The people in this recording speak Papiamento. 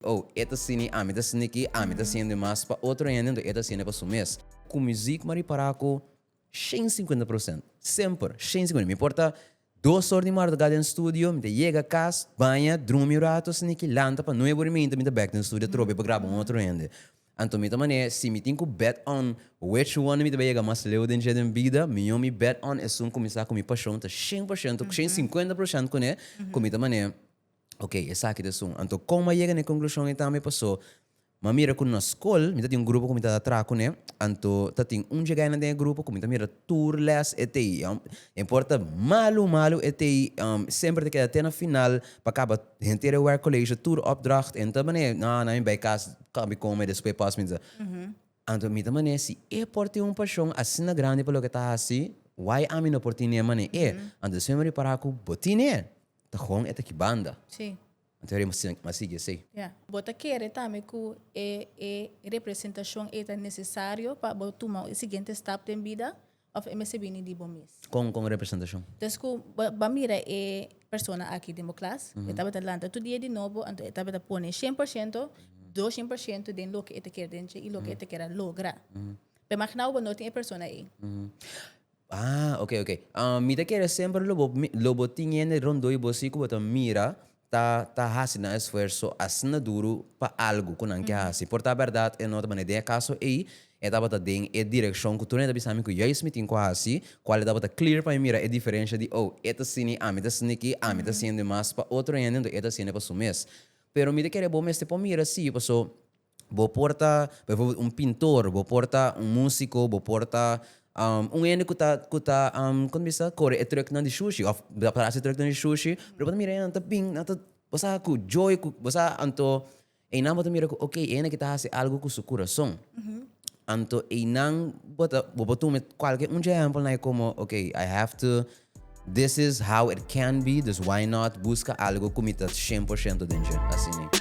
Oh, e ta sini, ami ta sini ki, ami ta siende mas pa otro hende, enton e ta siende pa su mes. Ku muzik mari para ku shen sinkuenta prosènt. Semper, shen sinkuenta. Mi por ta dos or di marduga den studio, mi ta yega kas, baña, drumi un ratu, sini ki, lanta, pa nuebe uriminta mi ta bèk den studio atrobe pa graba un otro hende. Anto mi ta manera, si mi tin ku bèt on which one mi ta bai yega mas leu den dje den bida, mion mi bèt on esun kuminsá ku mi pashon ta shen por shento, shen sinkuenta proshènt kuné, ku mi ta manera. Ok, esaki ta esun. Anto kon mi a yega na e konklushon ei tambe? Paso mi a mira ku na skol mi ta tin un grupo ku mi ta atra kuné. Anto ta tin un djigainan den e grupo ku mi ta mira tur lès e ta ei. No importa malu malu e ta ei, semper e ta keda te na final pa kaba henter e wèk koleshe, tur opdracht. E no ta manera, no, nan mi bai kas kòmpi kon mi despues pas mi ta sa. Anto mi ta manera, si e por tin un pashon asina grandi pa loke e ta hasi, why ami no por tin'é mane'é? Anto despues mi a repará ku bo tin'é. Ta hon e ta ki banda. Sí. Anto e rei m'a sigui esei. Ya. Bo ta kere tambe ku e e representashon ei ta nesesario pa bo tuma e siguiente stap den bida òf e mester bini di bo mes? Kon kon representashon? Des ku bo bo a mira e persona aki den bo klas, e tabata lanta tur dia di nobo, anto e tabata pone shen por shento, dos shen por shento den loke e ta kere den dje i loke e ta kere logra. Pero imaginá bo bo no tin e persona ei. Ah, ok, ok. Um, mi ta kere semper lo bo, lo bo tin hende rondoi bo si ku bo ta mira ta, ta hasi nan esfuerso asina duru pa algu ku nan ke hasi. Por ta berdad, e no tabata den e kaso ei, e tabata den e direkshon ku tur hende ta bisa mi ku juist mi tin ku hasi, kual e tabata clear pa mi mira e diferensha di, oh, e ta asini, ami ta asini aki, ami ta hasiende mas pa otro hende, enton e ta hasiende pa su mes. Pero mi ta kere bo mester por mira si, paso. Bo por ta, pa eforbel, un pintor, bo por ta un músiko, bo por ta um un hende ku ta ku ta um kon ta bisa ta kore e trùknan di shushi òf ta kore e trùknan di shushi, pero bo ta mira e nan ta bini, nan ta bo sa ku joy ku bo sa anto einan bo ta mira ku okay e hende aki ta hasi algu ku su kurason. Anto einan bo ta bo por tuma kualke un dje ehèmpelnan ei komo okay I have to. This is how it can be, dus why not buska algo ku mi ta shen por shento den dje? Asini.